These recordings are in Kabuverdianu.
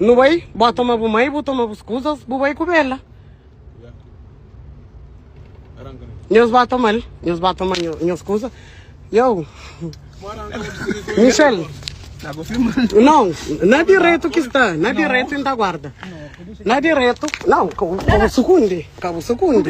Nu bai, bo toma bu mai, bu toma bus kuzas, bu bai ku Bela. Nhos ba tomal, nhos ba toma nhos kuza. Yo, Michel, não, na direito que está, na direito ainda guarda. Na direito, não, cabo secunde, cabo secunde.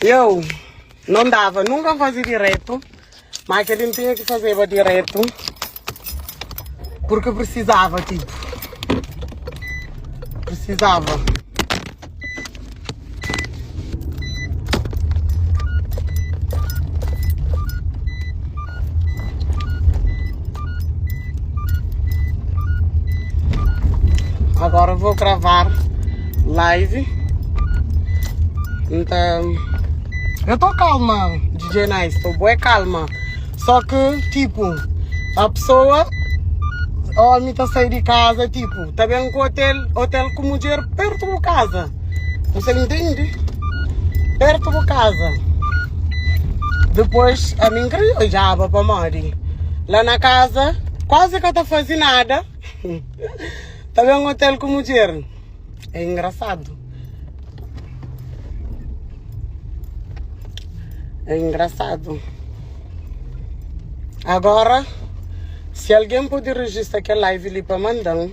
Eu non dava nunca a fazi diretu, ma keli n'tinha ki fazeba diretu purki prisizava tipu, prisizava. Agora vou gravar live. Então, eu tô calma, DJ Nice, tô boa calma. Só que, tipo, a pessoa, homem tá saindo de casa, tipo, tá bem com o hotel, hotel com mulher perto de casa. N fla-l, intendi, pertu bu kaza. Dipôs ami N krê odjaba pamodi la na kaza kuazi ka ta faze nada, ta ben ôtel ku mudjer. É ingrasadu. É ingrasadu. Agora, si algen pode rejista kel live li pa manda-m.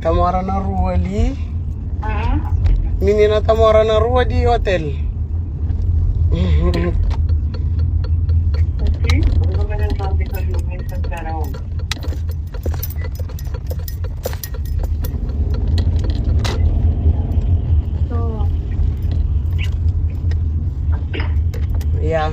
Ta mora na rua ali. Uhum. Menina ta mora na rua de hotel. Yeah.